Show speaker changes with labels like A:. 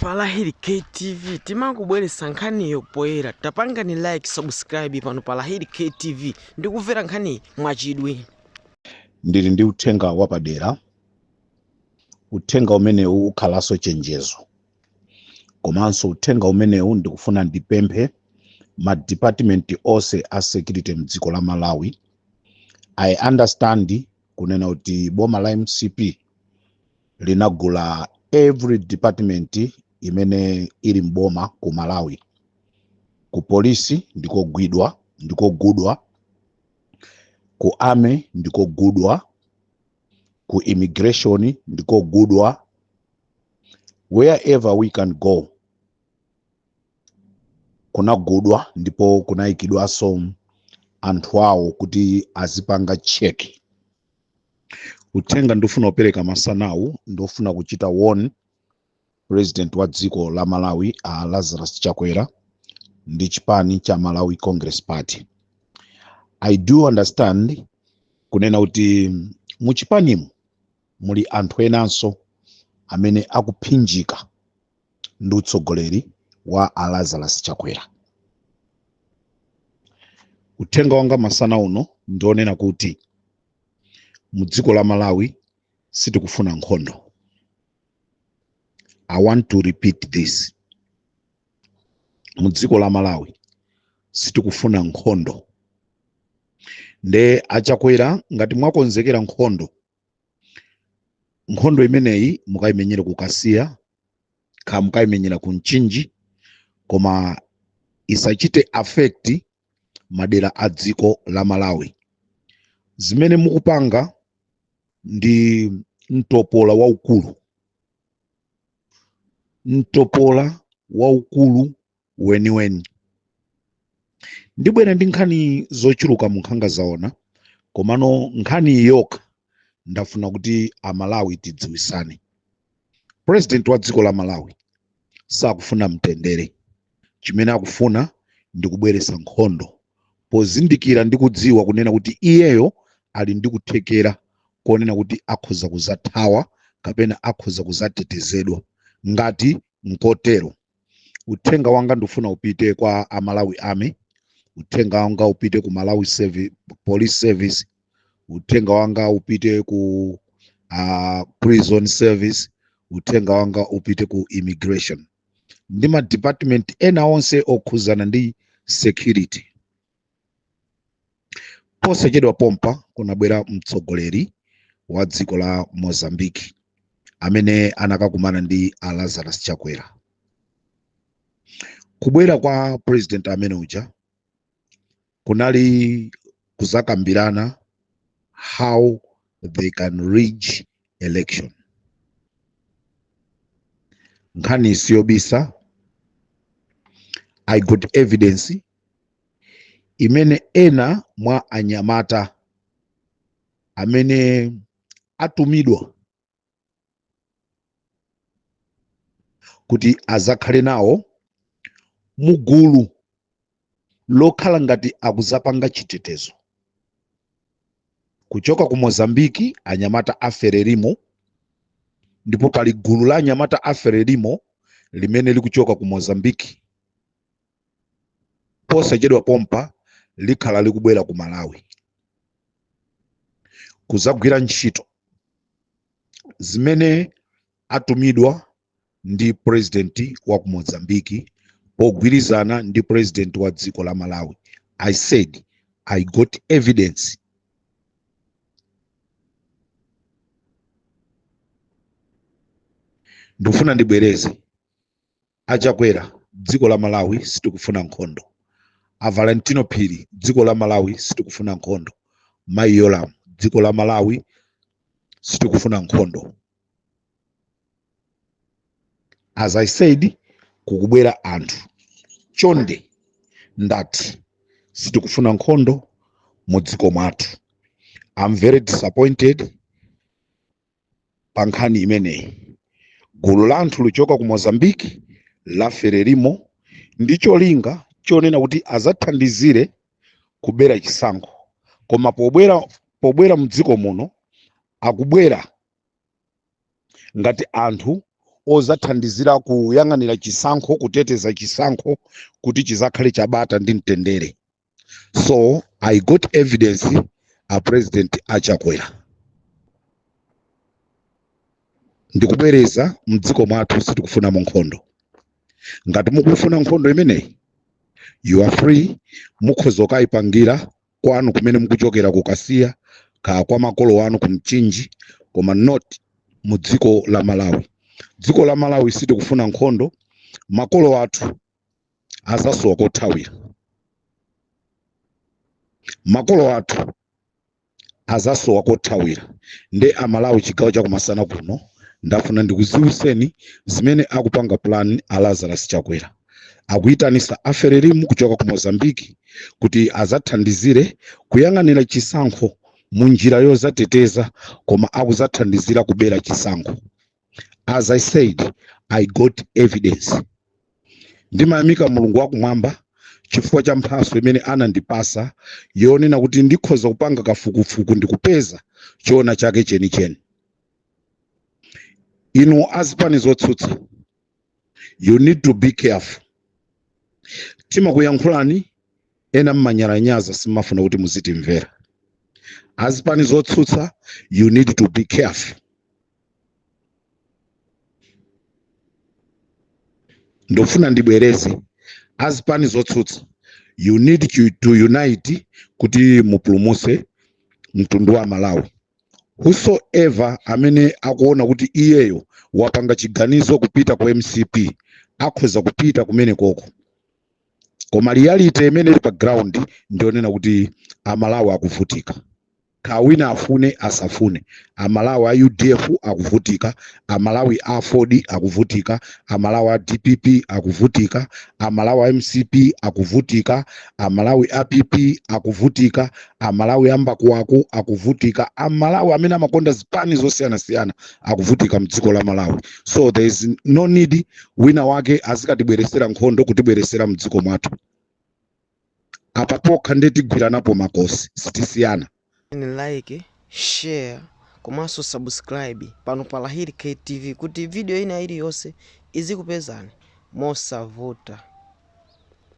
A: Falahili KTV timakubweretsa nkhaniyo poyera tapangani like subscribe pano Falahili KTV ndikumvera nkhaniyi mwachidwi ndili
B: ndi uthenga wapadera uthenga umenewu ukhalanso chenjezo komanso uthenga umenewu ndikufuna ndipemphe ma department onse a security mdziko la malawi i understand kunena kuti boma la mcp linagula every department imene ili mboma ku malawi ku polisi ndikogwidwa ndikogudwa ku army ndikogudwa ku immigration ndikogudwa wherever we can go kunagudwa ndipo kunayikidwanso anthu awo kuti azipanga cheki uthenga ndifuna kupereka masanawu ndofuna kuchita warn president wa dziko la malawi a lazarus chakwera ndi chipani cha malawi congress party i do understand kunena kuti mu chipanimu muli anthu enanso amene akuphinjika ndi utsogoleri wa a Lazarus Chakwera. Uthenga wanga masana uno ndi wonena kuti mu dziko la Malawi sitikufuna nkhondo. I want to repeat this. Mu dziko la Malawi sitikufuna nkhondo. Nde achakwera ngati mwakonzekera nkhondo nkhondo imeneyi mukayimenyere ku kasiya kaya mukayimenyera ku mchinji koma isachite affect madera a dziko la malawi zimene mukupanga ndi mtopola waukulu mtopola waukulu weniweni ndibwera ndi nkhani zochuluka mu nkhanga zaona komano nkhani yokha ndafuna kuti amalawi tidziwisane president wa dziko la malawi sakufuna mtendere chimene akufuna ndi kubweretsa nkhondo pozindikira ndi kudziwa kunena kuti iyeyo ali ndi kuthekera konena kuti akhoza kuzathawa kapena akhoza kuzatetezedwa ngati nkotero uthenga wanga ndifuna upite kwa amalawi army uthenga wanga upite ku malawi police service uthenga wanga upite ku uh, prison service uthenga wanga upite ku immigration ndi ma department ena onse okhuzana ndi security posachedwa pompa kunabwera mtsogoleri wa dziko la mozambique amene anakakumana ndi a lazarus chakwera kubwera kwa president amene uja kunali kuzakambirana how they can rig election nkhani siyobisa i got evidence imene ena mwa anyamata amene atumidwa kuti azakhale nawo mugulu lokhala ngati akuzapanga chitetezo kuchoka ku mozambiki anyamata a frelimo ndipo pali gulu la anyamata a frelimo limene likuchoka ku mozambiki posachedwa pompa likhala likubwera ku malawi kuzagwira ntchito zimene atumidwa ndi purezidenti wa ku mozambiki pogwirizana ndi purezidenti wa dziko la malawi i said i got evidence ndikufuna ndibwereze achakwera dziko la malawi sitikufuna nkhondo a valentino phiri dziko la malawi sitikufuna nkhondo mayi yolamu dziko la malawi sitikufuna nkhondo as i said kukubwera anthu chonde ndati sitikufuna nkhondo mu dziko mwathu i'm very disappointed pa nkhani imeneyi gulu la anthu lichoka ku mozambique la frelimo ndi cholinga chonena kuti azathandizire kubera chisankho koma pobwera pobwera mdziko muno akubwera ngati anthu ozathandizira kuyang'anira chisankho kuteteza chisankho kuti chizakhale chabata ndi mtendere so i got evidence a president achakwera ndikubwereza mdziko mwathu sitikufunamo nkhondo ngati mukufuna nkhondo imeneyi you are free mukhoza kukayipangira kwanu kumene mukuchokera kukasiya kaya kwa makolo anu kumchinji koma not mu dziko la malawi dziko la malawi sitikufuna nkhondo makolo athu azasowa kothawira makolo athu azasowa kothawira nde amalawi chigawo chakumasana kuno ndafuna ndikuziwiseni zimene akupanga plan a lazarus chakwera akuyitanisa a frelimo kuchoka ku mozambiki kuti azathandizire kuyang'anira chisankho mu njira yozateteza koma akuzathandizira kubera chisankho as i said i got evidence ndimayamika mulungu wakumwamba chifukwa cha mphatso imene anandipasa yonena kuti ndikhoza kupanga kafukufuku ndikupeza choona chake chenicheni inu azipani zotsutsa you need to be careful timakuyankhulani ena mmanyalanyaza simmafuna kuti muzitimvera azipani zotsutsa you need to be careful ndofuna ndibwereze azipani zotsutsa you need to unite kuti mupulumuse mtundu wa malawi whosoever amene akuona kuti iyeyo wapanga chiganizo kupita ku mcp akhoza kupita kumene koko koma reality imene ili pa ground ndi yonena kuti amalawi akuvutika Kaya wina afune asafune, amalawi a udf akuvutika, amalawi a aford akuvutika, amalawi a dpp akuvutika, amalawi a mcp akuvutika, amalawi a pp akuvutika, amalawi a mbakuwaku akuvutika, amalawi amene amakonda zipani zosiyanasiyana akuvutika mdziko la malawi. So there is no need wina wake azikatibweresera nkhondo kutibweresera mdziko mwathu. apa pokha nde tigwiranapo makosi sitisiyana. like
A: share komanso subscribe pano pa Lahiri K TV kuti video ina iliyonse izikupezani mosavuta.